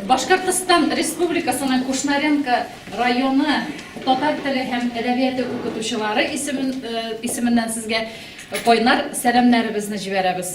Башкортстан Республикасының Кушнаренко районы татар теле һәм әдәбияты укытучылары исеменнән сезгә кайнар сәламнәребезне җибәрәбез.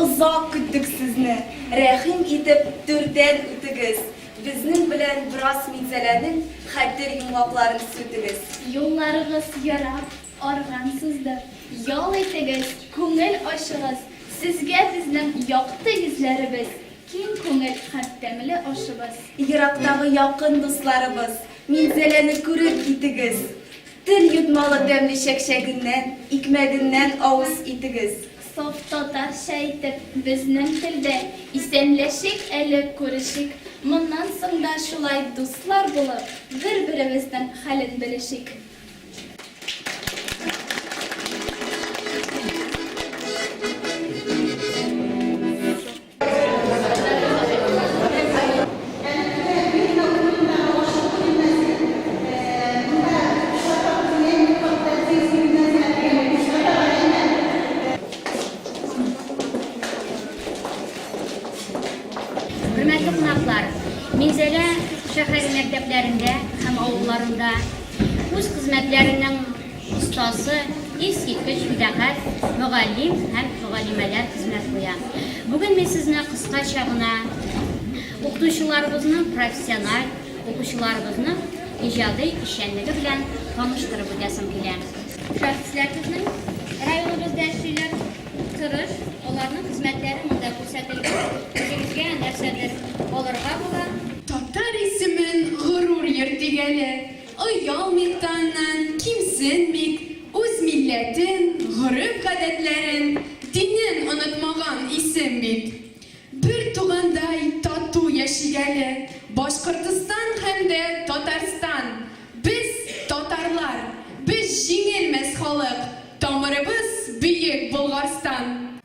Озак көттек сезне. Рәхим итеп түрдән үтегез. Безнең белән бераз Минзәләнең хәтер йомгакларын сүтегез. Юлларыгыз ярап, арган сызды. Ял итегез, күңел ачыгыз. Сезгә безнең якты йөзләребез. Киң күңел һәм тәмле ашыбыз. Ерактагы якын дусларыбыз. Минзәләне күреп китегез. Тел йотмалы тәмле чәкчәгеннән, икмәгеннән авыз итегез. Саф татарча итеп, безнең телдә исәнләшик әле, күрешик. Моннан соң да шулай дуслар булып, бер-беребезнең хәлен белешик. Хөрмәтле кунаклар, Минзәлә шәһәре мәктәпләрендә һәм авылларында үз хезмәтләренең Остазы, искиткеч фидакарь мөгаллим һәм мөгаллимәләр хезмәт куя. Бүген мин сезне кыскача гына укытучыларыбызның профессиональ, укучыларыбызның иҗади эшчәнлеге белән таныштырып үтәсем килә. Шәхесләр безнең районыбызда эшлиләр, тырыш, аларның хезмәтләре монда күрсәтелгән. Үзегезгә нәрсәдер алырга була. Татар исемен горур йөртик әле. Оялмыйк та аннан, кимсенмик, үз милләтен, гореф-гадәтләрен, динен онытмаган исем бит. Бер тугандай тату яшик әле Башкортостан һәм дә Татарстан! Без, татарлар, без җиңелмәс халык, тамырыбыз Бөек Болгарстан!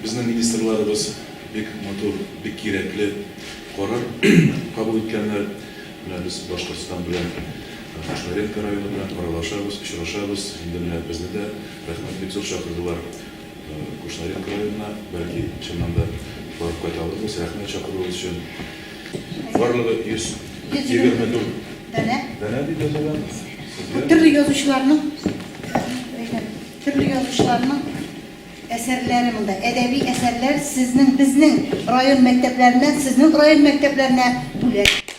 Безнең министрларыбыз бик матур, бик кирәкле карар кабул иткәннәр. Менә без Башкортстан белән, Кушнаренко районы белән аралашабыз, очрашабыз. Инде менә безне дә, рәхмәт, бик зур чакырдылар. Кушнаренко районына, бәлки, чыннан да барып кайта алырбыз. Рәхмәт чакыруыгыз өчен. Барлыгы 124 данә данә дип язылган. Сезгә төрле язучыларның төрле язучыларның әсәрләре монда. Әдәби әсәрләр сезнең, безнең район мәктәпләреннән сезнең район мәктәпләренә бүләк.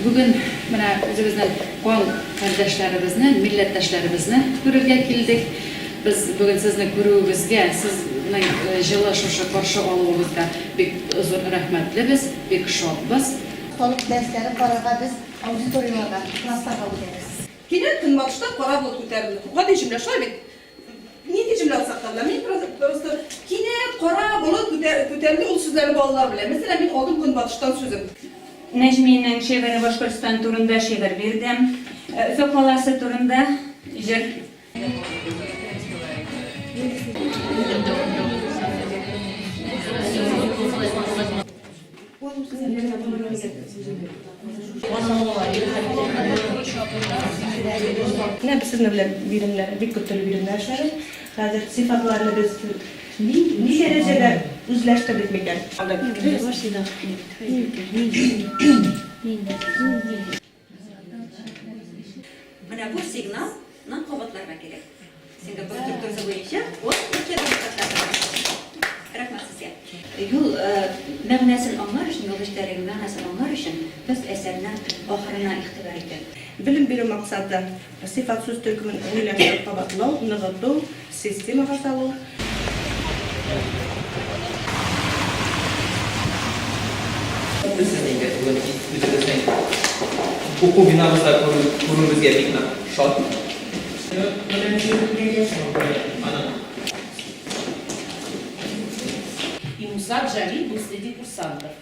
Бүген менә үзебезнең кан кардәшләребезне, милләттәшләребезне күрергә килдек. Без бүген сезне күрүебезгә, сезнең җылы шушы каршы алуыгызга бик зур рәхмәтлебез, бик шатбыз. Халык дәресләре карарга без аудиторияларга, классларга үтәбез. Кинәт Көнбатышта кара болыт күтәрелде. Гади җөмлә, шулай бит? Нинди җөмлә саклап була? Мин просто кинәт кара болыт күтәрелде, ул сүзләрне балалар белә. Мәсәлән, мин алдым көнбатыштан сүзен. Нәҗминең шигыре Башкортстан турында шигырь бирдем. Өфе каласы турында җыр. Менә без сезнең белән биремнәр, бик күп төрле биремнәр эшләдек. Хәзер сыйфатларны без ни ни дәрәҗәдә үзләштердек микән? Менә бу сигнал ны кабатларга кирәк. Сингапур структурасы буенча ул ике Рәхмәт сезгә. Юл мәгънәсен аңлар өчен, юл эчтәлеге мәгънәсен аңлар өчен без әсәрнең ахырына игътибар итәбез. Белем бирү максаты. Сыйфат сүз төркемен гомумиләштереп кабатлау, ныгыту, системага салу.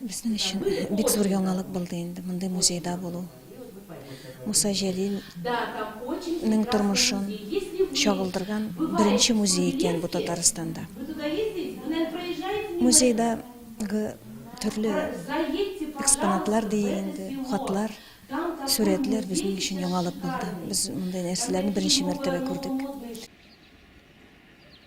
Безнең өчен бик зур яңалык булды инде мондый музейда булу. Муса Җәлилнең тормышын чагылдырган беренче музей икән бу Татарстанда. Музейдагы төрле экспонатлар диик инде, хатлар, сурәтләр безнең өчен яңалык булды. Без мондый нәрсәләрне беренче мәртәбә күрдек.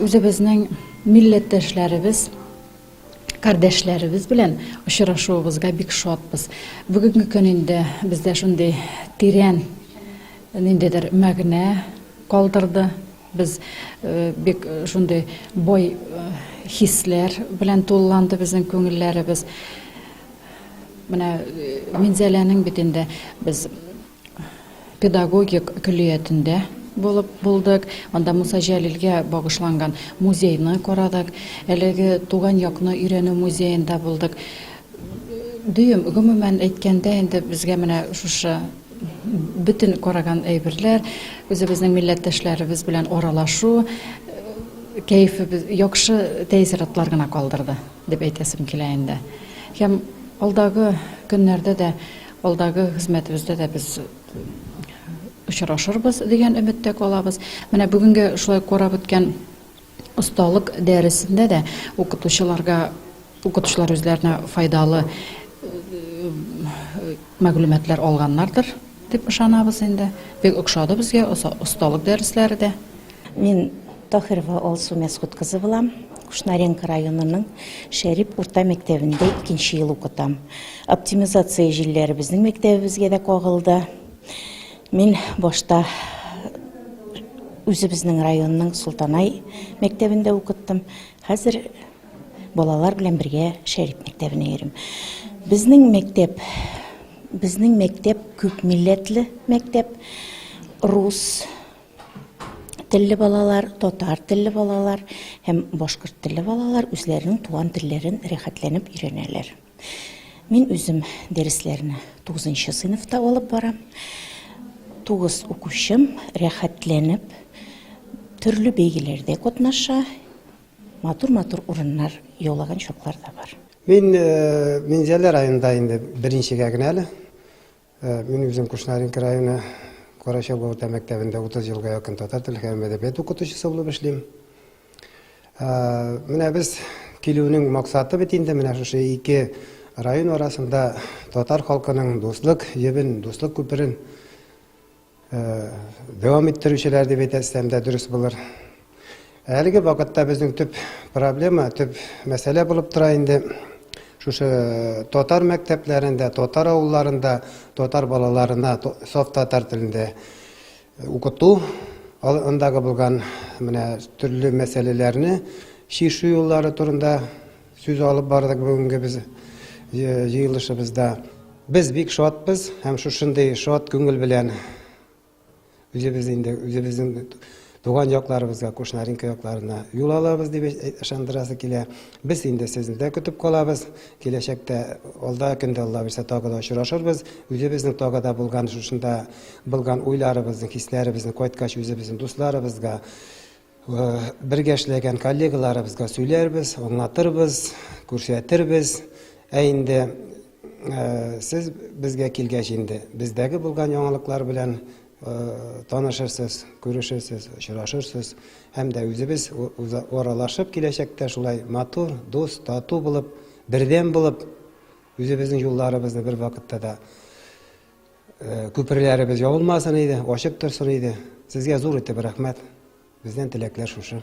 Үзебезнең милләттәшләребез, кардәшләребез белән очрашуыбызга бик шатбыз. Бүгенге көн инде бездә шундый тирән ниндидер мәгънә калдырды. Без э, бик э, шундый бай э, хисләр белән тулыланды безнең күңелләребез. Менә Минзәләнең бит инде без педагогик көллиятендә булып булдык. Анда Муса Җәлилгә багышланган музейны карадык. Әлеге туган якны өйрәнү музеенда булдык. Дөем, гомумән әйткәндә, инде безгә менә шушы бөтен караган әйберләр, үзебезнең милләттәшләребез белән аралашу кәефебез, яхшы тәэссоратлар гына калдырды, дип әйтәсем килә инде. Һәм алдагы көннәрдә дә Алдагы хезмәтебездә дә без очрашырбыз дигән өметтә калабыз. Менә бүгенге шулай карап үткән осталык дәресендә дә укытучыларга укытучылар үзләренә файдалы мәгълүматлар алганнардыр дип ышанабыз инде. Бик ошады безгә осталык дәресләре дә. Мин Таһирова Алсу Мәсгут кызы булам. Кушнаренко районының Шәрип урта мәктәбендә икенче ел укытам. Оптимизация җилләре безнең мәктәбебезгә дә кагылды. Мин башта үзебезнең районның Солтанай мәктәбендә укыттым. Хәзер балалар белән бергә Шәрип мәктәбенә йөрим. Безнең мәктәп, безнең мәктәп күп милләтле мәктәп. Рус, телле балалар, татар телле балалар һәм башкорт телле балалар үзләренең туган телләрен рәхәтләнеп өйрәнәләр. Мин үзем дәресләрне 9 сыйныфта алып барам. 9 укучым рәхәтләнеп төрле бәйгеләрдә катнаша, матур-матур урыннар яулаган чаклар да бар. Мин э, Минзәлә районында инде беренчегә генә әле. Э, мин үзем Кушнаренко районы Карачаба урта мәктәбендә 30 елга якын татар теле һәм әдәбият укытучысы булып эшлим. Э, менә без килүнең максаты бит инде менә шушы ике район арасында татар халкының дуслык җебен, дуслык күперен дәвам иттерүчеләр дип әйтсәм дә дөрес булыр. Әлеге вакытта безнең төп проблема, төп мәсьәлә булып тора инде шушы э, татар мәктәпләрендә, татар авылларында татар балаларына саф татар телендә э, укыту, андагы булган менә төрле мәсьәләләрне шишу юллары турында Сүз алып бардык бүгенге без җыелышыбызда. Без бик шатбыз һәм шушындый шат күңел белән үзебез инде үзебезнең туган якларыбызга, Кушнаренко якларына юл алабыз дип ышандырасы килә. Без инде сезне дә көтеп калабыз. Киләчәктә алда көндә Алла бирсә тагы да очрашырбыз. Үзебезнең тагы да булган шушында булган уйларыбызны, хисләребезне кайткач үзебезнең дусларыбызга Бергә эшләгән коллегаларыбызга сөйләрбез, аңлатырбыз, күрсәтербез. Ә инде сез безгә килгәч инде, бездәге булган яңалыклар белән танышырсыз, күрешерсез, очрашырсыз. Һәм дә үзебез аралашып киләчәктә шулай матур, дус, тату булып, бердәм булып, үзебезнең юлларыбызны бер вакытта да Күперләребез ябылмасын иде, ачык торсын иде. Сезгә зур итеп рәхмәт. Бездән теләкләр шушы.